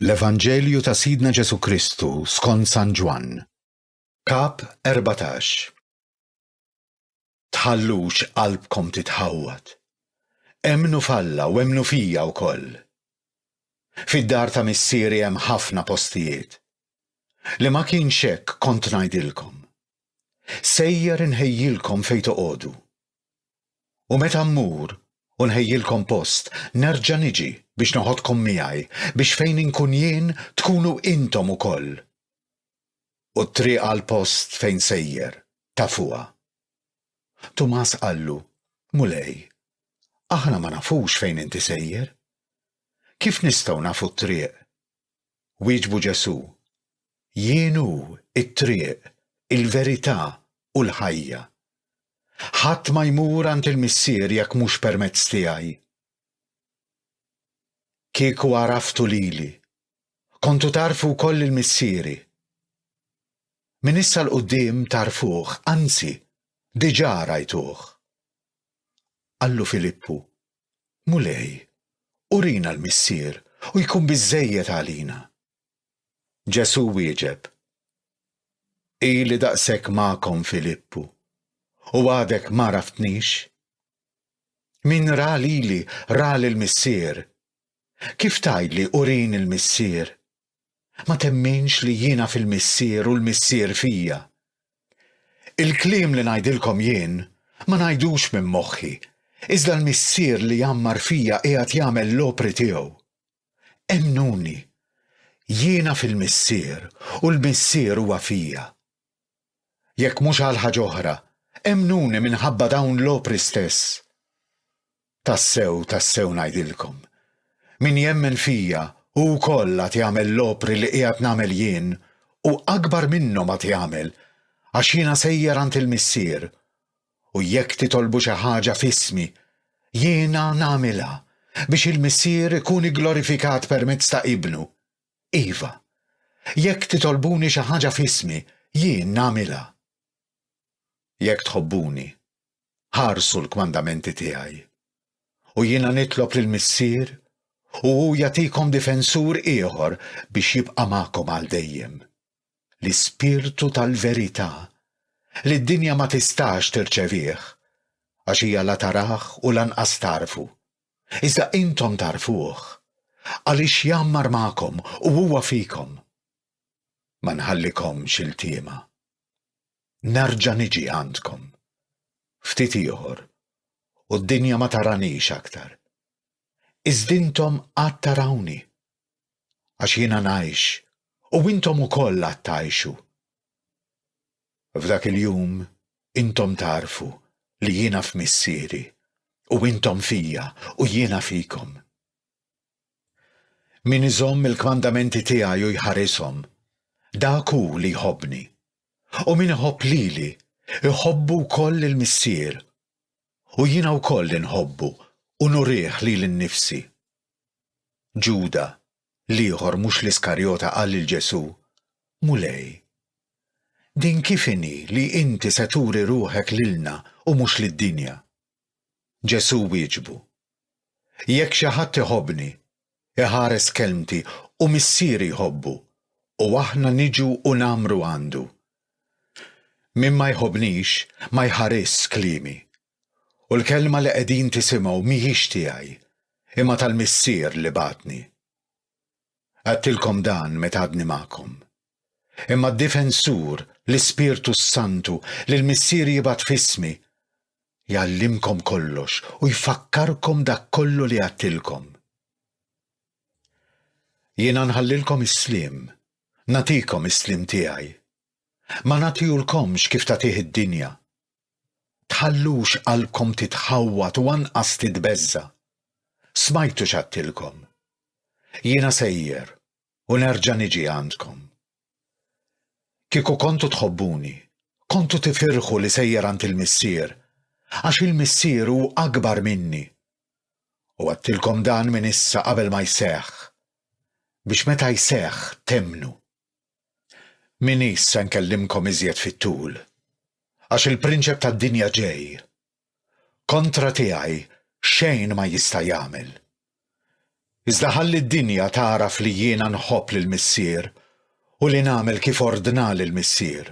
L-Evanġelju ta' Sidna Ġesù Kristu skont San Ġwann, Kap 14 Tħallux qalbkom titħawwad. Emmnu f'Alla u emmnu fija wkoll. Fid-dar ta' Missieri hemm ħafna postijiet. Li ma kienx hekk kont ngħidilkom. Sejjer inħejjilkom fejn toqogħdu. U meta mmur u nħejjilkom post, nerġa' niġi biex neħodkom miegħi, biex fejn inkun jien tkunu intom ukoll. U t-triq għall-post fejn sejjer, tafuha. Tumas qallu, Mulej, aħna ma nafux fejn inti sejjer. Kif nistgħu nafu t-triq Wieġbu Ġesù, Jien hu t-triq, il-verità, u l-ħajja. Ħadd ma jmur għand il-Missier jekk mhux permezz tiegħi. Kieku għaraftu lili, kontu tagħrfu wkoll lil Missieri. Minn issa 'l quddiem tagħrfuh, anzi, diġà rajtuh. Qallu Filippu, Mulej, urina l-Missier u jkun biżżejjed għalina. Ġesù wieġeb, Ili daqshekk magħkom Filippu, u għadek m'għaraftnix? Min ra lili ra lill-Missier. Kif tgħidli urini l-Missier? Ma temminx li jiena fil-Missier u l-Missier fija. Il-kliem li ngħidilkom jien, ma ngħidux minn moħħi, iżda l-Missier li jgħammar fija qiegħed jagħmel l-opri tiegħu. Emmnuni, jiena fil-Missier u l-Missier huwa fija. Jekk mhux għal ħaġa oħra, emmnuni minħabba dawn l-opri stess. Tassew, tassew ngħidilkom, Min jemmen fija, hu wkoll għad jagħmel l-opri li qiegħed nagħmel jien, u akbar minnhom għad jagħmel, għax jiena sejjer għand il-Missier. U jekk titolbu xi ħaġa f'ismi, jiena nagħmilha, biex il-Missier ikun igglorifikat permezz ta' Ibnu. Iva, jekk titolbuni xi ħaġa f'ismi, jien nagħmilha. Jekk tħobbuni, ħarsu l-kmandamenti tiegħi. U jiena nitlob lill-Missier u hu jagħtikom difensur ieħor biex jibqa' magħkom għal dejjem. L-Ispirtu tal-verità li d-dinja ma tistax tirċevih għax hija la tarah u lanqas tagħrfu. iżda intom tagħrfuh, għaliex jgħammar magħkom u huwa fikom. Ma nħallikomx iltiema. Nerġa' niġi għandkom. Ftit ieħor, u d-dinja ma taranix aktar. Iżd intom għad tarawni. Għax jiena ngħix, u intom ukoll għad tgħixu. F'dak il-jum intom tagħrfu li jiena f'Missieri, u intom fija u jiena fikom. Min iżomm il-kmandamenti tiegħi u jħarishom, dak hu li jħobbni, u min iħobb lili, iħobbu wkoll lill-Missier, u jiena wkoll inħobbu u nurih lili nnifsi. Ġuda, L-ieħor mhux l-Iskarjota qal lil Ġesù, Mulej, din kif inhi li inti se turi ruħek lilna u mhux lid-dinja? Ġesù wieġbu, Jekk xi ħadd iħobbni, iħares kelmti u Missieri jħobbu u aħna niġu u ngħammru għandu. Min ma jħobbnix ma jħarisx kliemi U l-kelma li qegħdin tisimgħu mhijiex tiegħi, imma tal-Missier li bagħatni. Għedtilkom dan meta għadni magħkom. Imma d-Difensur, l-Ispirtu s-Santu, li l-Missier jibgħat f'ismi, jgħallimkom kollox u jfakkarkom dak kollu li għedtilkom. Jiena nħallilkom is-sliem, nagħtikom is-sliem tiegħi. Ma nagħtihulkomx kif tagħtih id-dinja. Tħallux qalbkom titħawwad u anqas titbeżża'. Smajtu x'għadtilkom. Jiena sejjer u nerġa' niġi għandkom. Kieku kontu tħobbuni, kontu tifirħu li sejjer għand il-Missier, għax il-Missier hu akbar minni. U għadtilkom dan minn issa qabel ma jseħħ, biex meta jseħħ temmnu. M'inis se nkellimkom iżjed fit-tul, għax il-prinċep tad-dinja ġej. Kontra tiegħi xejn ma jista' jagħmel. Iżda ħalli d-dinja tagħraf li jiena nħobb lill-Missier u li nagħmel kif ordnali l-Missier.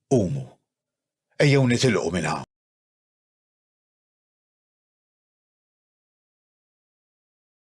Qumu, ejjew nitilqu minn hawn.